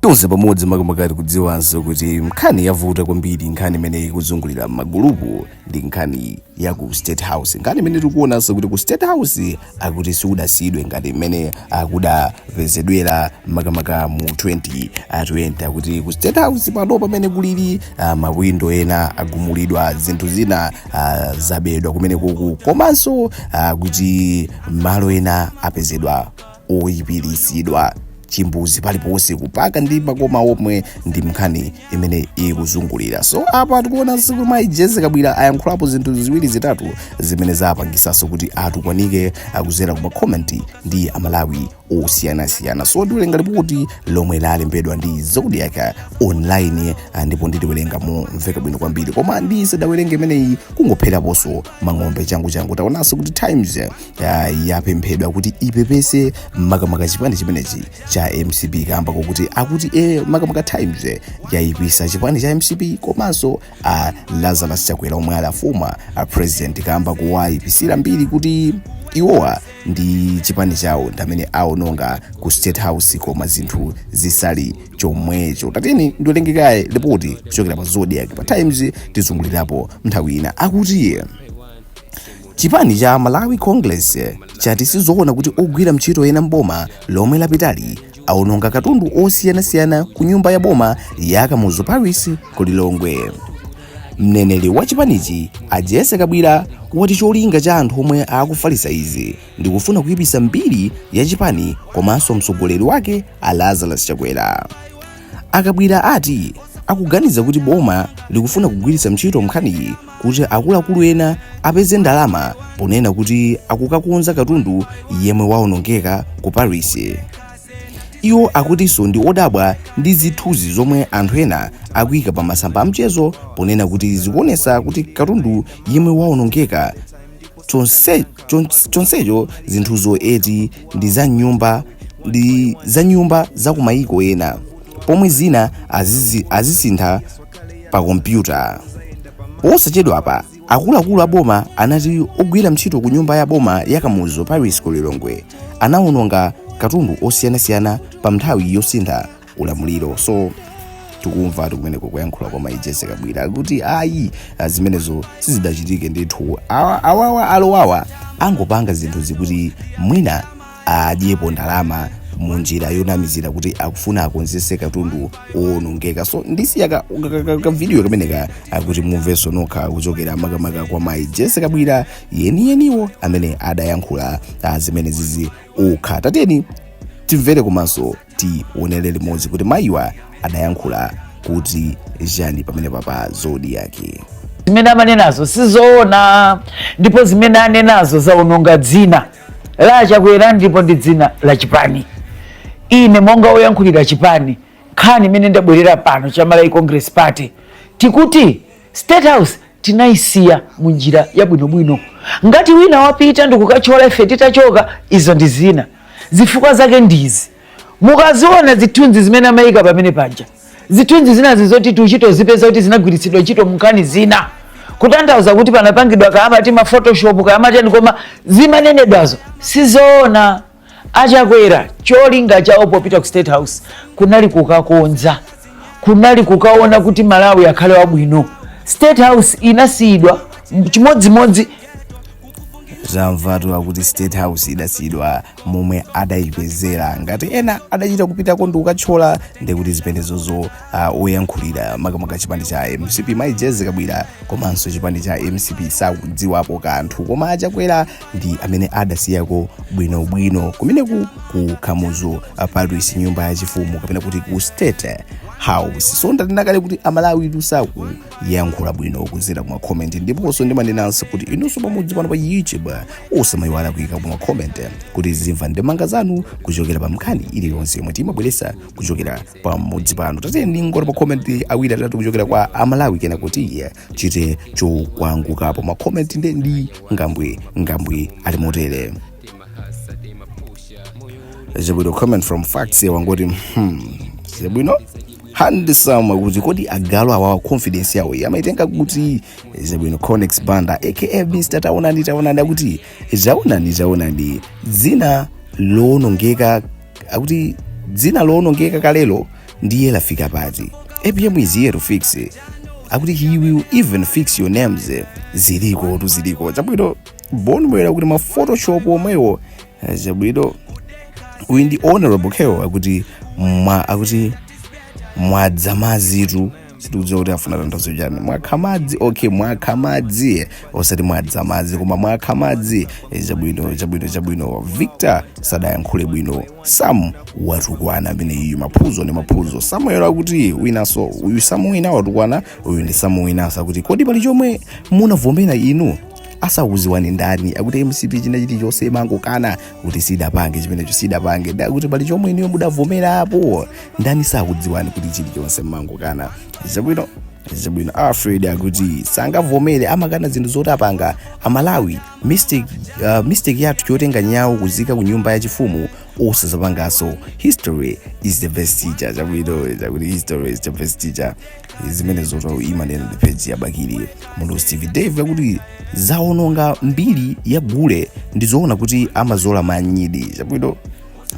tonse pamodzi makamaka tikudziwanso kuti nkhani yavuta kwambiri nkhani imene ikuzungulira magulupu ndi nkhani ya ku State House nkhani imene tikuonanso kuti ku state house akuti siudasiyidwe ngati mmene kudapezedwera makamaka mu 2020 akuti ku state house pano pamene kulili ah, mawindo ena agumulidwa zinthu zina ah, zabedwa kumeneku komanso ah, kuti malo ena apezedwa oyipiritsidwa chimbuzi paliponse kupaka ndi makoma omwe ndi mnkhani imene ikuzungulira so apa tikuonanso kuti mayi Jessie Kabwira ayankhulapo zinthu ziwiri zitatu zimene zapangisanso kuti atukwanike kuzera ku makomenti ndi amalawi osiyanasiyana so ndiwerenga lipoti lomwe lalembedwa ndi Zodiak online ah, ndipo ndiliwerenga momveka bwino kwambiri koma ndisadawerenge limeneli kungopheraponso mang'ombe changu changu taonanso kuti times uh, yapemphedwa kuti ipepese makamaka chipani chimenechi cha mcp kamba kokuti akuti e makamaka times eh, yayipisa chipani cha mcp komanso uh, lazarus chakwera omwe ali a former uh, president kamba kowayipisira mbiri kuti iwowa ndi chipani chawo ndamene aononga ku state house koma zinthu zisali chomwecho tatiyeni ndiwerenge kaye lipoti kuchokera pa Zodiak pa times tizungulirapo nthawi ina akuti Chipani cha Malawi Congress chati sizoona kuti ogwira ntchito ena m'boma lomwe lapitali awononga katundu osiyanasiyana ku nyumba ya boma ya Kamuzu Palace ku Lilongwe. Mneneri wa chipanichi a Jessie Kabwira wati cholinga cha anthu omwe akufalitsa izi ndi kufuna kuipisa mbiri ya chipani komanso mtsogoleri wake a Lazarus Chakwera. A Kabwira ati akuganiza kuti boma likufuna kugwiritsa ntchito nkhaniyi kuti akuluakulu ena apeze ndalama ponena kuti akukakonza katundu yemwe waonongeka ku Palace iwo akutinso ndi odabwa ndi zithunzi zomwe anthu ena akuika pa masamba amchezo ponena kuti zikuonesa kuti katundu yemwe waonongeka chonse- chons- chonsecho zinthuzo eti ndi za nyumba ndi za nyumba za kumayiko ena pomwe zina azizi- azisintha pa kompyuta posachedwapa akuluakulu a boma anati ogwira ntchito ku nyumba ya boma ya Kamuzu Palace ku lilongwe anawononga katundu osiyanasiyana pa nthawi yosintha ulamuliro so tikumvatu kumeneko kuyankhula kwa mayi Jessie Kabwira kuti ayi ah, zimenezo sizidachitike ndithu Awa- awawa alowawa angopanga zinthu zokuti mwina adyepo ndalama mu njira yonamizira kuti akufuna akonzese katundu owonongeka so ndisiya ka- ka- ka- ka- kavidiyo kameneka kuti mumvenso nokha kuchokera makamaka kwa mayi Jessie Kabwira eni eniwo amene adayankhula ah, zimene zizi okha tatiyeni timvere komanso Tionele limodzi kuti mayiwa adayankhula kuti chani pamenepa pa Zodiak. Zimene amanenazo sizoona ndipo zimene anenazo zaononga dzina la a Chakwera ndipo ndi dzina la chipani. Ine monga woyankhulira chipani, nkhani imene ndabwerera pano cha Malawi Congress Party tikuti State House tinaisiya mu njira yabwinobwino. Ngati wina wapita ndikukatchola ife titachoka, izo ndi zina. Zifukwa zake ndizi, mukaziona zithunzi zimene amayika pamene paja, zithunzi zinazi zoti tiuchitozipeza kuti zinagwiritsidwa ntchito munkhani zina, kutanthauza kuti panapangidwa kaya amati ma photoshop kaya amatani, koma zimanenedwazo sizoona. achakwera cholinga chawo popita ku state house kunali kukakonza kunali kukaona kuti malawi akhale wabwino state house inasiyidwa chimodzimodzi zamvatu akuti state house idasiyidwa momwe adayipezera ngati ena adachita kupitako ndi kukatchola nde kuti zimenezozo uh, oyankhulira makamaka chipani cha mcp mayi jessie kabwila komanso chipani cha mcp sakudziwapo kanthu koma achakwera ndi amene adasiyako bwinobwino kumeneku ku kamuzu palace nyumba ya chifumu kapena kuti ku state house so ndanena kale kuti amalawi tutha kuyankhula bwino kuzera kuma comment ndiponso ndimanenanso kuti inunso pamudzi pano pa youtube musamayiwala kuyika kuma comment kuti tizimva ndemanga zanu kuchokera pa nkhani iliyonse yomwe timabweresa kuchokera pa mudzi pano tatiyeni ndingotapa comment awiri atatu kuchokera kwa amalawi kenako ti chite chokwangukapo makomenti nde ndi ngambwi ngambwi ali motere zabwino comment from facts wangoti hmm, zabwino handsome kuti kodi agalu awawa confidence yawo amaitenga kuti zabwino conex banda aka mr taonani taonani akuti zaonani zaonani dzina loonongeka akuti dzina lowonongeka kalelo ndiye lafika pati apm is here to fix akuti he will even fix your names zilikotu ziliko zabwino bon bwera kuti ma photoshop omwewo eh, zabwino uyu ndi honorable keo akuti mwa akuti mwadza madzitu sitikudziwa kuti afuna atanthauze chani mwakha madzi okay mwakha madzi osati mwadza madzi koma mwakha madzi Eh, chabwino chabwino chabwino victor sadayankhule bwino sam watukwana ameneyu maphuzo ndi maphuzo samuel akuti winaso uyu samu wina watukwana uyu ndi samu winaso akuti kodi pali chomwe munavomera inu asakuziwani ndani akuti mcp china chilichonse imangokana kuti sidapange chimenecho sidapange nde akuti pali chomwe inuyo mudavomera apo ndani sakudziwani kuti chilichonse mmangokana zabwino zabwino alfred akuti sangavomere amakana zinthu zoti apanga amalawi mystic, uh, mystic yathu chotenga nyawo kuziika ku nyumba ya chifumu osazapanganso history is the best teacher zabwino zakuti history is the best teacher zimene zoto imanena ndi page ya bakili munthu steve dave akuti zaononga mbiri ya gule ndizoona kuti amazola manyidi chabwino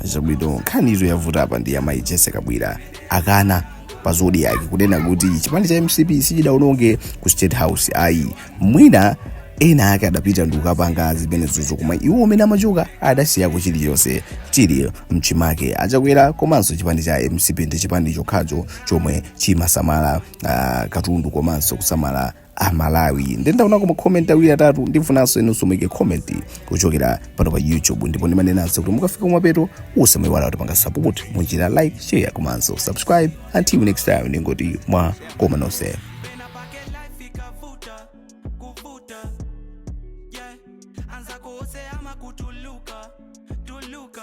zabwino nkhani izo yavuta apa ndi amayi jessie kabwila akana pa zodiak kunena kuti chipani cha mcp sichidaononge ku state house ayi mwina ena ake adapita ndi kukapanga zimenezozo koma iwo mmene amachoka adasiyako chilichonse chili mchimake achakwera komanso chipani cha mcp ndi chipani chokhacho chomwe chimasamala ah, katundu komanso kusamala amalawi ndendaonako makomenti awiri atatu ndifunanso inunso muike komenti kuchokera pano pa youtube ndipo ndimanenanso kuti mukafika kumapeto musamayiwale kutipanga support mu njira ya like share komanso subscribe until next time ndingoti mwakoma nonse Pena pa que life ikavuta, kuvuta. Yeah, anza kuose ama kutuluka, tuluka.